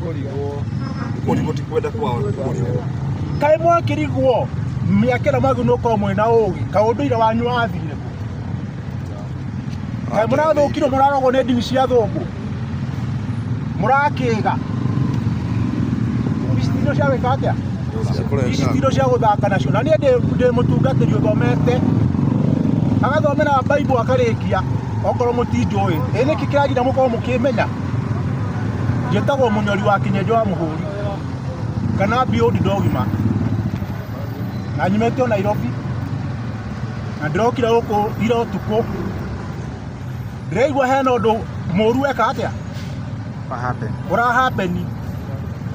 kũrigwo kũrigwo ti kwenda kwao kũrigwo kaĩ mwakĩrigwo mĩaka ĩno magu nũkorwo mwĩna ũgĩ kaũndũire wanyu wathire kũ kaĩ mũrathũkirwo mũrarogwo nĩ ndini cia thũngũ mũrakĩga ici tindo cia gwĩka atĩa ici tindo cia gũthaka nacio na niĩ ndĩ- ndĩ mũtungatĩri ũthomete agathomera baibu akarĩkia okorwo mũtinjũĩ ĩ nĩkĩ kĩragira mũkorwo mũkĩmenya njĩtagwo mũnyori wa kĩnyenjo wa mũhũri kana biũndi ndogima na nyumĩte o nairobi na ndĩrokire gũkũ ira ũtukũ ndĩraigua hena ũndũ mũru weka atĩa What happened? ũrahapeni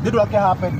ndĩndũ akĩhapeni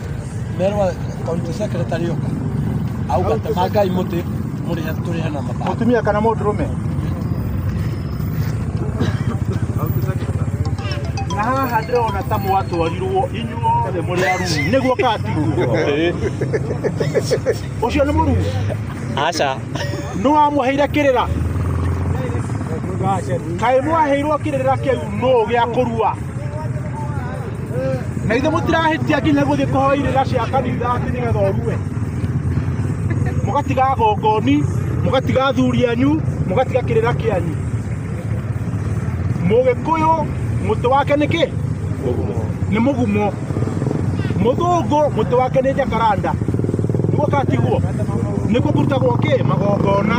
merwa kaunti secretary yoka auga temagai muti muri haturi hana mata mutumia kana mudurume na haha ndĩrona ta mwatwarirwo inyuothe mũrĩ aruu nĩguo katigwo ũcio nĩ mũruu aca nĩ wamũheire kĩrĩra kaĩ mwaheirwo kĩrĩra kĩu nũ gĩa kũrua na ithe mũtirahĩtia nginya gũthiĩ kũhoya irĩra cia kanitha atĩ nĩgetha ũrue mũgatiga gongoni mũgatiga athuri anyu mũgatiga kĩrĩra kĩanyu mũgĩkũyũ mũtĩ wake nĩ kĩ nĩ mũgumo mũthũngũ mũtĩ wake nĩ jakaranda nĩguo katigwo nĩguo kũrutagwo kĩ magongona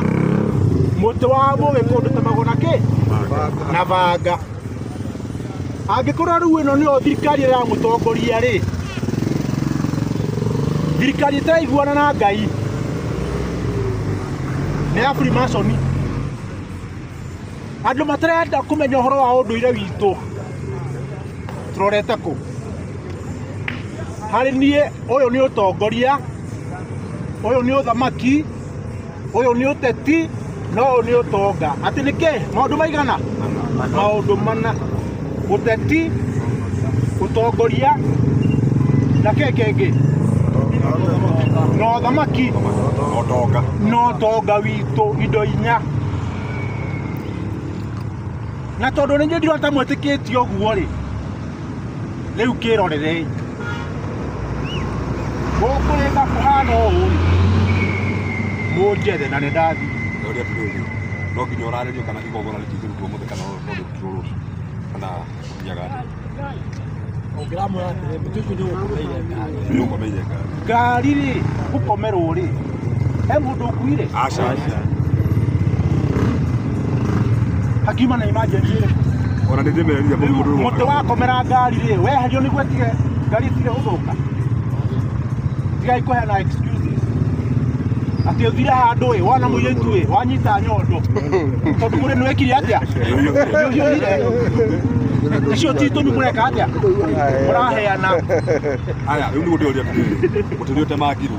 mũtĩ wa mũgĩkũndũ ta magona kĩ na banga angĩkorwo rĩu ĩno nĩyo thirikari ĩramũtongoria rĩ thirikari ĩtaraiguana na ngai nĩ ya freemason andũ matarenda kũmenya ũhoro wa ũndũire witũ tũrorete kũ harĩ niĩ ũyũ nĩ ũtongoria ũyũ nĩ ũthamaki ũyũ nĩ ũteti no ũyũ nĩ ũtonga atĩ nĩ kĩ maũndũ maigana maũndũ mana ũteti ũtongoria na kĩ kĩngĩ na ũthamaki Otonga. na ũtonga witũ indo inya na tondũ nĩ ndirota mwĩtĩkĩtie ũguo rĩ rĩu kĩrorerei gũkũrĩka kũhana ũũ mũnjethe na nĩ ndathi na ũrĩa tũrĩ no nginya ũrarĩrio kana igongona rĩtingĩrutwo mũthĩ kana rĩrutwo rũciũ kana nyaga ũngĩramwĩra atĩrĩ mũtũkũ nĩ ũgũkũmeire ngari nĩ ũkomeire ngari ngari rĩ gũkomerwo rĩ he mũndũ ũkuire aca hakiuma na imajenti rĩ ona nĩ ndĩmerire rĩu mũndũ mũtĩ wakomera ngari rĩ weherio nĩguo tige ngari ĩtige gũthũka tigai kũheana excuses atĩ ũthire handũ ĩ wona mũirĩtu ĩ wanyita nyondo tondũ mũrĩ nĩwekire atĩa nĩũhiũhire icio ti itũmi mũreka atĩa mũraheana aya rĩu nĩ gũtĩoria atĩrĩrĩ mũtĩ ũrĩa ũtemangirwo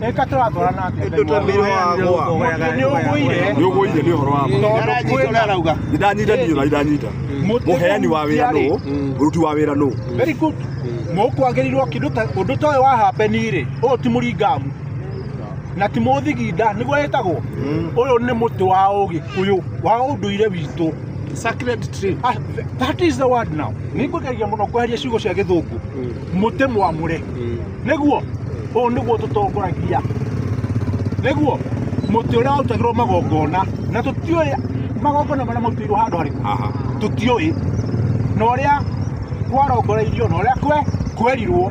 Eka turatwara na atĩa? Nĩ ũgũire. nä å gå ire nä å horo wa ma Tondũ kwĩna- nä ndanyita ndiå na ndanyita Mũtĩ må heani wa wä ra mũtiarĩ. nå må ruti wa wä ra nå Very good. Mũkwagĩrĩirwo kĩndũ ta ũndũ ta ũyũ wa hapeni rĩ, ũyũ ti mũringamu na ti mũthiginda nĩguo ĩtagwo ũyũ nĩ mũtĩ wa ũgĩkũyũ wa ũndũire witũ Sacred tree. Ah, that is the word now nĩngũgeria mũno kweheria ciugo cia gĩthũngũ mũtĩ mwamũre nĩguo ũũ nĩguo tũtongoragia nĩguo mũtĩ ũrĩa warutagĩrwo magongona na tũtiũĩ magongona marĩa marutĩirwo handũ harĩkũ Aha. tũtiũĩ na ũrĩa kwarongoreirio na ũrĩa kwe kwerirwo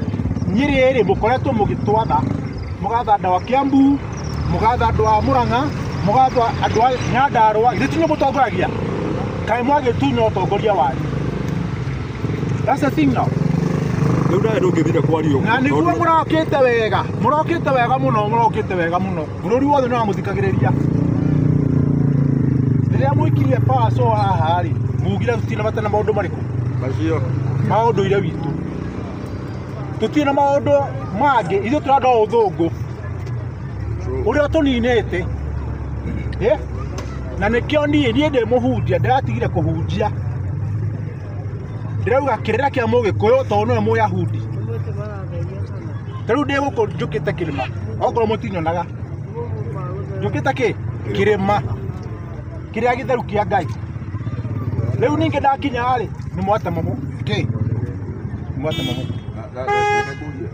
niĩ rĩrĩ mũkoretwo mũgĩtwatha mũgatha andũ a Kiambu mũgatha andũ a Murang'a mũgatha andũ a Nyandarua githĩ ti inyuĩ mũtongoragia kaĩ mwagĩtunya ũtongoria wanyu That's the thing now. Rĩu nawe ndũngĩthire kwaria ũguo. Na nĩguo Tondũ- mũrokĩte wega, mũrokĩte wega mũno, mũrokĩte wega mũno. Bũrũri wothe nĩ wamũthikagĩrĩria. Rĩrĩa mwĩkirie power so haha rĩ, mugire tũtirĩ na bata na maũndũ marĩkũ? Macio. Ma ũndũire witũ. Tũtirĩ na maũndũ mangĩ, ithuĩ tũrenda o ũthũngũ. True. Ũrĩa tũninĩte. Eh? Na nĩkĩo niĩ, niĩ ndĩ mũhunjia, ndĩratigire kũhunjia. ndĩrauga kĩrĩra kĩa mũgĩkũyũ tondũ nĩwe mũyahudi tarĩu ndĩ gũkũ njũkĩte kĩrĩma okorwo mũtinyonaga njũkĩte kĩ kĩrĩma kĩrĩa gĩtheru kĩa ngai rĩu ningĩ ndakinya rĩ nĩ mwatema mũ kĩ mwatema mũ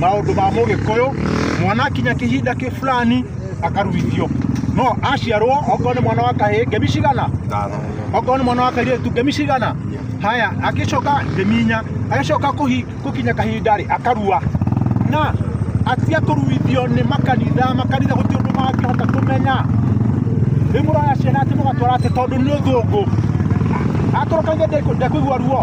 maũndũ ma mũgĩkũyũ mwana akinya kĩhinda kĩ fulani akaruithio no aciarwo okorwo nĩ mwana wa kahĩĩ ngemi cigana okorwo nĩ mwana wa kairĩtu ngemi cigana haya agĩcoka ngemi inya agĩcoka kũhi- gũkinya kahinda rĩ akarua na atia kũruithio nĩ makanitha makanitha gũtirĩ ũndũ mangĩhota kũmenya rĩu mũraya ciana atĩ mũgatwara atĩ tondũ nĩ ũthũngũ atũrũkagia ndekũigua ruo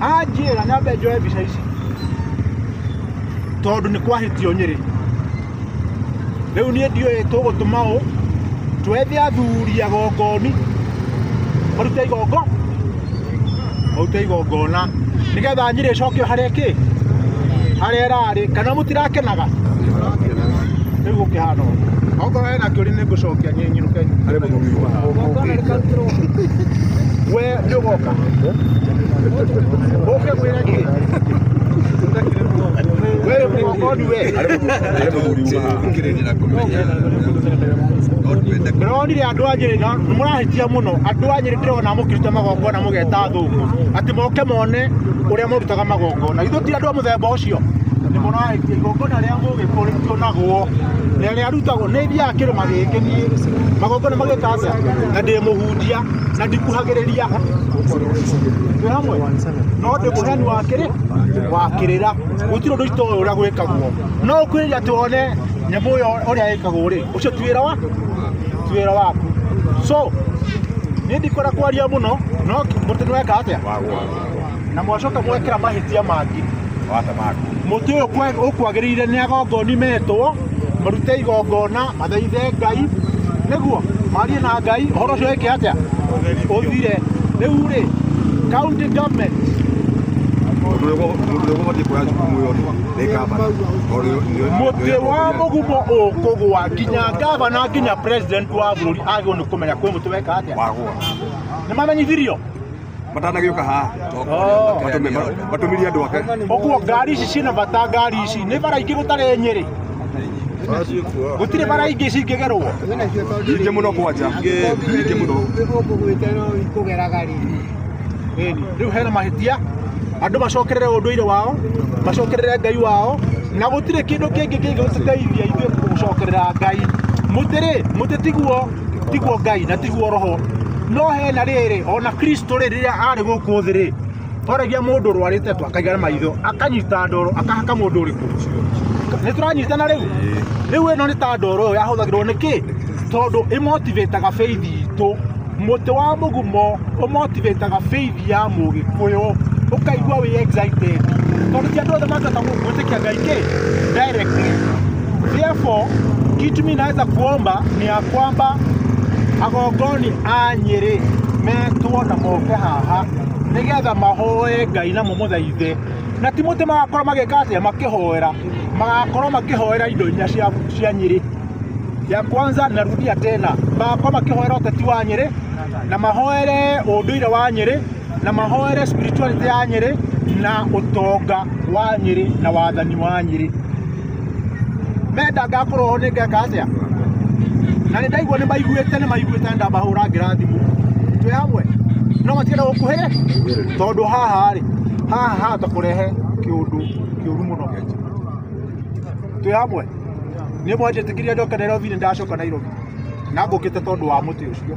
anjĩra nyambe njoe mbica ici tondũ nĩ kwahĩtio nyĩrĩ rĩu niĩ ndiũĩ tũgũtũma ũ twethe athuri agongoni marute igongo marute igongona nĩgetha nyĩrĩ ĩcokio harĩa kĩ harĩa ĩrarĩ kana mũtirakenaga rĩu gũkĩhana ũguo okorwo hena kĩũria nĩ ngũcokia nyĩnyirũke Harĩ mũthuri wa. Ũgongona rĩkarutĩrwo. nyogoka uke mwira ki wewe mwokodu we ndĩronire andũ a nyĩrĩ na mũrahĩtia mũno andũ a nyĩrĩ ndĩrona mũkirute magongona mũgeta thũngũ atĩ moke mone ũrĩa mũrutaga magongona ithuĩ ti andũ a mũthemba ũcio nĩ mũrahĩtia igongona rĩa mũgĩkũ rĩtionagwo na rĩarutagwo nĩ ithiaga kĩrĩma gĩkĩ niĩ magongona magĩka atĩa na ndĩ mũhunjia ndikuhagiriria na ndikuhagiriria twi hamwe no ndi muheani wa kiri wa kirira gutiri undu itoe uria gwikagwo no ukwiriria tuone nyamu uyo uria yikagwo ri ucio ti wira wa ti wira waku so ni ndikora kwaria muno no mutu ni weka atia na mwacoka mwekera mahĩtia mangĩ mũtĩ ũyũ kwe- ũkwagĩrĩire nĩ agongoni metwo marute igongona mathaithe ngai nĩguo marie na ngai ũhoro ũcio wĩke atĩa ũthire rĩu rĩ county government mũtĩ wa mũgumo ũkũgwa nginya ngavana nginya president wa bũrũri agĩrĩirwo nĩ kũmenya kwĩ mũtĩ weka atĩa nĩ mamenyithirio matanagĩũka haha matũmirie andũ ake ũguo ngari ici ciĩna bata ngari ici nĩ bara ingĩ gũtarĩ nyĩrĩ gũtirĩ bara ingĩ cingĩgerwo nyingĩ mũno kwanja nyingĩ mũno rĩu hena mahĩtia andũ macokerere ũndũire wao macokerere ngai wao na gũtirĩ kĩndũ kĩngĩ kĩngĩgũteithia ithuĩ gũcokerera ngai mũtĩrĩ mũtĩtiguo tiguo ngai na tiguo roho no hena rĩrĩ ona kristo rĩ rĩrĩa arĩ gũkũ thĩ rĩ oragia mũndũ rwarĩte tu akaigana maitho akanyita ndoro akahaka mũndũ ũrĩkũ nĩ tũranyitana rĩu rĩu ĩno nĩ ta ndoro ĩyo yahũthagĩrwo nĩ kĩ tondũ ĩmotivĩtaga beithi itũ mũtĩ wa mũgumo ũmotivĩtaga beithi ya mũgĩkũyũ ũkaigua wĩ excited tondũ ti andũ othe mangĩhota gwĩtĩkia ngai kĩ directly Therefore, kitu mimi naweza kuomba ni ya kwamba agongoni a Nyeri metwo na moke haha nigetha mahoe Ngai na mũmũthaithe na ti mũtĩ magakorwo magĩka atĩa makĩhoera magakorwo makĩhoera indo inya cia, cia Nyeri ya kwanza narudia tena magakorwo makĩhoera ũteti wa Nyeri na mahoere ũndũire wa Nyeri na mahoere spirituality ya Nyeri na ũtonga wa Nyeri na wathani wa Nyeri menda ngakorwo ho nĩngeka atĩa na nĩ ndaigua nĩ maiguĩte nĩ maiguĩte nĩ ndamahũra ngĩrathimũ twĩ hamwe no matigere gũkuhĩrĩ tondũ haha rĩ haha hahota kũrehe kĩũndũ kĩũru mũno twĩ hamwe nĩ mwanjĩtĩkĩria ndoke Nairobi nĩ ndacoka Nairobi na ngũkĩte tondũ wa mũtĩ ũcio